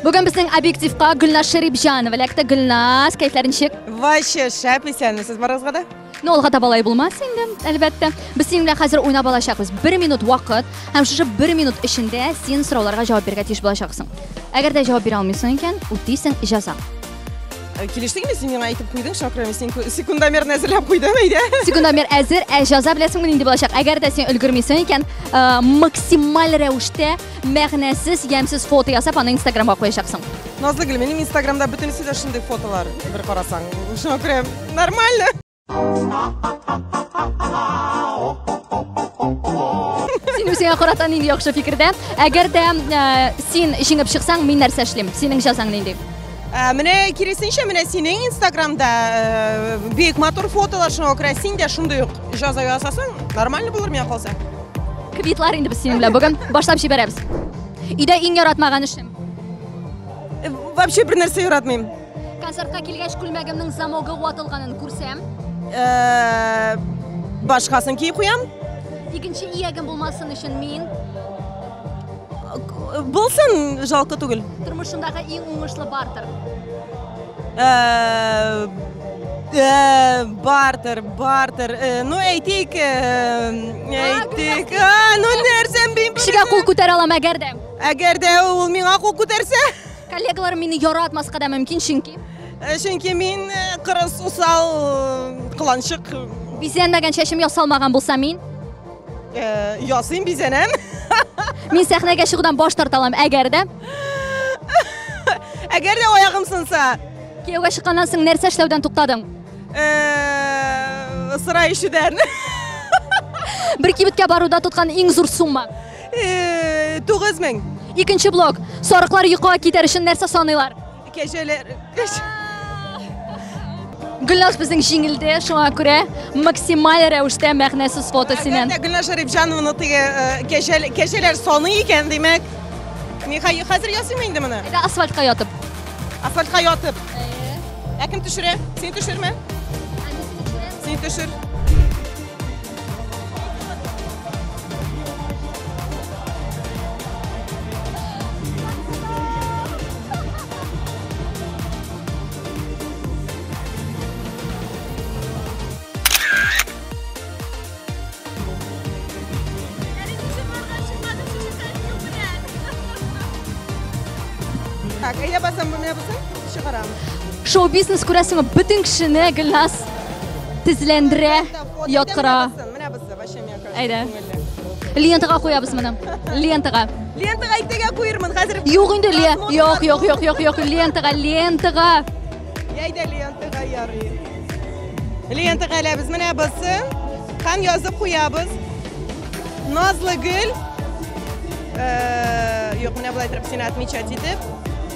Бүген безнең объективка Гөлназ Шәрипҗанова эләкте. Гөлназ, кәефләр ничек? Вообще шәп исәнме сез барыгызга да? Ну, алга таба алай булмас инде, әлбәттә. Без синең белән хәзер уйнап алачакбыз. Бер минут вакыт һәм шушы бер минут эчендә син сорауларга җавап бирергә тиеш булачаксың. Әгәр дә җавап бирә алмыйсың икән, үтисең җаза. Э, Килештең инде син миңа әйтеп куйдың, шакрым, син ку- секундомерны әзерләп куйдың, әйдә. Секундомер әзер, ә җаза беләсеңме нинди булачак? Әгәр дә син өлгермисең икән, э, максималь рәвештә мәгънәсез, ямьсез фото ясап, аны Инстаграмга куячаксың. Назлы гел, минем Инстаграмда бөтенесе дә шундый фотолар, бер карасаң. Шуңа күрә нормально. Син үзеңә карата нинди яхшы фикердә? Әгәр дә э, син җиңеп чыксаң, мин нәрсә эшлим? Синең җәзаң нинди? Ә, менә киресенчә, менә синең Инстаграмда э, бик матур фотолар, шуңа күрә син дә шундый ук җаза ясасаң, нормально булыр миңа калса. Квитлар инде без синең белән бүген башлап җибәрәбез. Өйдә иң яратмаган эшем. Э, вообще бер нәрсә яратмыйм. Концертка килгәч күлмәгемнең замогы ватылганын күрсәм. Э, башкасын киеп куям. Икенче иягем булмасын өчен мин Булсын, жалко түгел. Тормышындагы иң уңышлы бартер. бартер бартер ну әйтик әйтик ну нәрсәм бим кешегә кул күтәрә алам әгәр дә әгәр дә ул миңа кул күтәрсә коллегаларым мине яратмаска да мөмкин чөнки чөнки мин кырыс усал кыланчык бизәнмәгән чәчем ясалмаган булса мин Э, ясыйм, бизәнәм. Мин сәхнәгә чыгудан баш тарта алам, әгәр дә. Әгәр дә аягым сынса. Кияүгә чыкканнан соң нәрсә эшләүдән туктадың? Э, сыра ишүдән. Бер кибеткә баруда тоткан иң зур сумма. Э, 9000. Икенче блок. Сарыклар йокыга китәр өчен нәрсә саныйлар? Кәҗәләр. Гөлназ безнең җиңелде, шуңа күрә максималь рәвештә мәгънәсез фото синен. Гөлназ Шәрипҗанованы теге э, кәҗәләр саны икән, димәк. Мин хәзер ясыйм инде моны. Әйдә асфальтка ятып. Асфальтка ятып. Ә кем төшерә? Син төшермә. Син төшер. Так, а я басам бумя басам, шигарам. Шоу-бизнес күрәсеңме, бөтен кешене Гөлназ тезләндерә. Яткыра. Менә без зәбәшем яка. Әйдә. Лентага куябыз моны. Лентага. Лентага әйтегә куермын хәзер. Юк инде ле. Юк, юк, юк, юк, юк. Лентага, лентага. Әйдә лентага ярый. Лентага ләбез менә басы. Һәм язып куябыз. Назлы гөл. Э, юк, менә булай торып сине отмечать итеп.